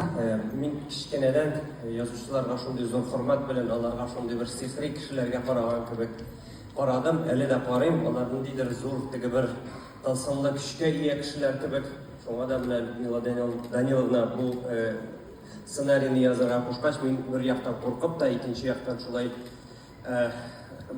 Э, мин кечкенәдән э, язучыларга шундый зур хөрмәт белән аларга шундый бер сихри кешеләргә караган кебек карадым әле дә карыйм алар ниндидер зур теге бер тылсымлы көчкә ия кешеләр кебек шуңа да менә людмила даниловна бу э, сценарийны язарга кушкач мин бер яктан куркып та икенче яктан шулай Эх,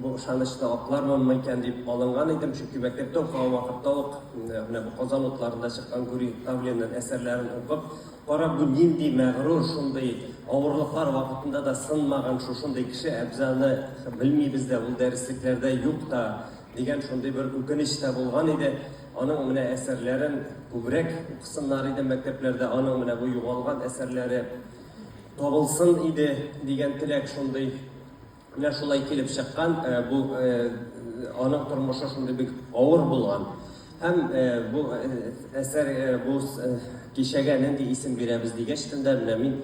бу ышанычны аклармынмы икән дип алынган идем, чөнки мәктәптә укыган вакытта ук менә бу Казан утларында чыккан Гүри Тавлинның әсәрләрен укып, кара бу нинди мәгърур, шундый авырлыклар вакытында да сынмаган шушындый кеше Әбзаны белмибез дә, ул дәреслекләрдә юк та дигән шундый бер үкенеч тә булган иде. Аның менә әсәрләрен күбрәк укысыннар иде мәктәпләрдә, аның менә бу югалган әсәрләре табылсын иде дигән теләк шундый менә шулай килеп чыккан э, бу э, аның тормышы шундый бик авыр булган һәм э, бу әсәр бу кичәгә нинди исем бирәбез дигәч тендә менә мин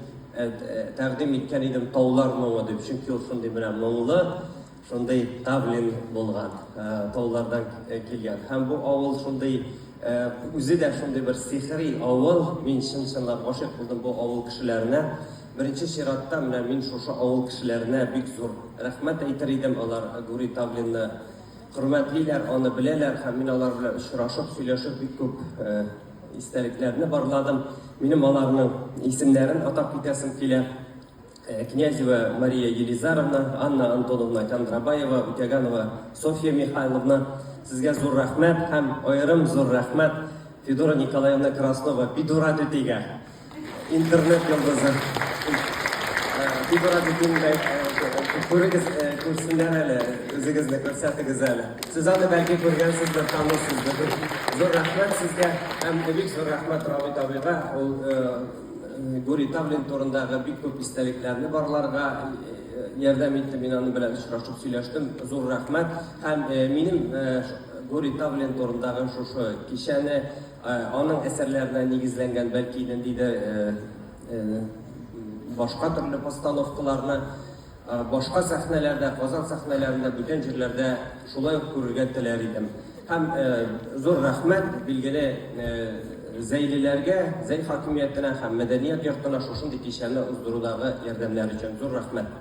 тәкъдим иткән идем таулар моңы дип чөнки ул шундый менә моңлы Шундый тавлин булган, таулардан килгән. Һәм бу авыл шундый, үзе дә шундый бер сихри авыл. Мин чын-чынлап гашыйк булдым бу авыл кешеләренә. Беренче чиратта менә мин шушы авыл кешеләренә бик зур рәхмәт әйтер идем. Алар Гури Тавлинны хөрмәтлиләр, аны беләләр һәм мин алар белән очрашып, сөйләшеп бик күп истәлекләрне барладым. Минем аларның исемнәрен атап китәсем килә. Князева Мария Елизаровна, Анна Антоновна Кондрабаева, Үтәганова Софья Михайловна, сезгә зур рәхмәт һәм аерым зур рәхмәт Федора Николаевна Краснова, Федора түтигә. Интернет йолдызы. Федора түтигә күрегез, күрсеннәр әле, үзегезне күрсәтегез әле. Сез аны бәлки күргәнсездер, танысыздыр. Зур рәхмәт сезгә һәм бик зур рәхмәт Равит абыйга. Ул Гурий Тавлин турындагы бик күп истәлекләрне барларга ярдәм итте. Мин аның белән очрашып сөйләштем. Зур рәхмәт. Һәм минем Гурий Тавлин турындагы шушы кичәне аның әсәрләренә нигезләнгән, бәлки ниндидер башка төрле постановкаларны Башка сәхнәләрдә, Казан сәхнәләрендә, бүтән җирләрдә шулай ук күрергә теләр идем. Һәм зур рәхмәт билгеле Зәйлеләргә, Зәй хакимиятенә һәм мәдәният йортына шушындый кичәне уздырудагы ярдәмнәре өчен зур рәхмәт.